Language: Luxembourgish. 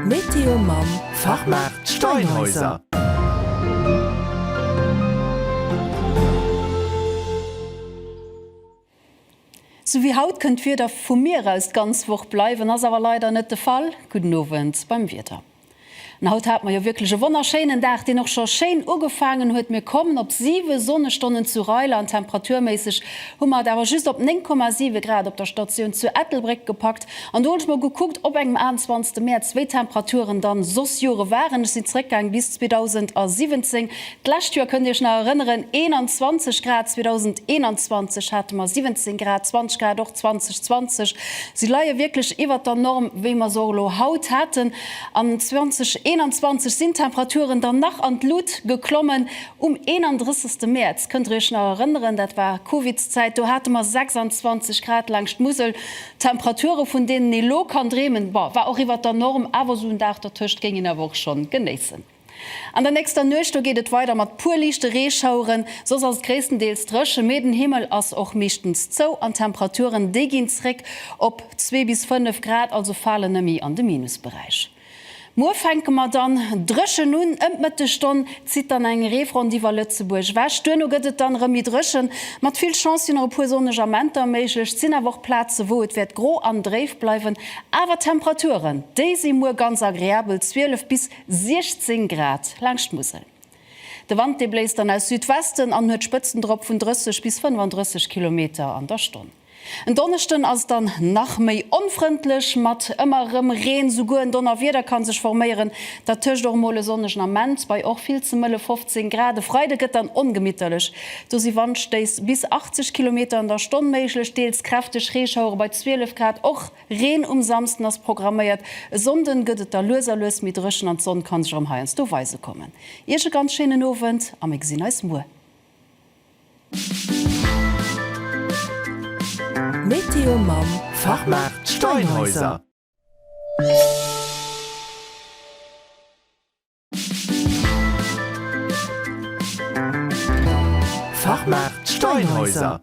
Météo mam Fachmaart Steinhäuser. Sou wéi haut kënnt d'Wieder vum Mier aus d'ganz Woch bleiwen, ass awer leider net de Fall. Gudden Owend beim Wieder. An haut hat mer jo wierklech e wonnerschéinen Dag, deen och scho schéin ugefaangen huet. Mir kommen op 7 Sonnestonnen zu Reiler an temperaturméisseg hu mer et awer just op 9,7 Grad op der Statioun zu Ettelbréck gepackt. An do hunn ech mol gekuckt op engem 28 Mäerz, wéi d'Temperaturen dann soss Jore waren. Ech sinn zréckgaang bis 2017, D'lescht Joer, kënnt Dir Iech nach erënneren, 21 Grad, 2021 hate mer 17 Grad, 20 Grad och 2020. Si leie wierklech iwwert der Norm, wéi mer se och elo haut haten. An 2021 sinn d'Temperaturen dann nach an d'Lut geklommen. Um 31. Mäerz, kënnt Der Iech nach erënneren, dat war Covidszäit, do hate mer 26 Grad laangscht d'Musel. Temperature vun deenen ee lo kann dreemen, bon, war och iwwert der Norm, awer esou en Dag dertëscht géing een awer och schonn genéissen. An der nächster Nuecht do geet et weider mat puer liichte Reeschaueren, soss ass et gréisstendeels dréchen, mee den Himmel ass och meeschtens zou an d'Temperaturen déi ginn zréck op zwee bis fënnef Grad, also falen nëmme an de Minusberäich. Muer fänke mer dann dréchen un, ëm d'Mëttegstonn zitt dann eng Reefront iwwer Lëtzebuerg ewech, duerno gëtt et dann erëm méi dréchen. Mat vill Chance sinn nach e puer sonneg Amenter méiglech, et sinn awer och Plaze wou et wäert gro an dréif bleiwen, awer d'Temperaturen déi si muer ganz agreabel, 12 bis 16 Grad laangscht d'Musel. De Wand dee bléist dann aus Südwesten an huet Spëtzen drop vun 30 bis 35 Kilometer an der Stonn. En Donneschden ass et dann nach méi onfrëndlech mat ëmmer erëm Reen. Souguer en Donnerwieder kann sech forméieren, dertëscht och mol e sonnegen Ament bei och vill ze mëlle 15 Grad. E Freide gëtt dann ongemitterlech, do si Wandstéiss bis 80 Kilometer an der Stonn méiglech, deels kräfteg Reeschauere bei 12 Grad. Och Reen um Samsden ass programméiert, e Sonnden gëtt et da lues a lues méi dréchen an d'Sonn kann sech erëm heiansdo weise kommen. Iech e ganz schéinen Owend a mir gesinn eis muer. Météo mam Fachmaart Steinhäuser. Fachmaart Steinhäuser.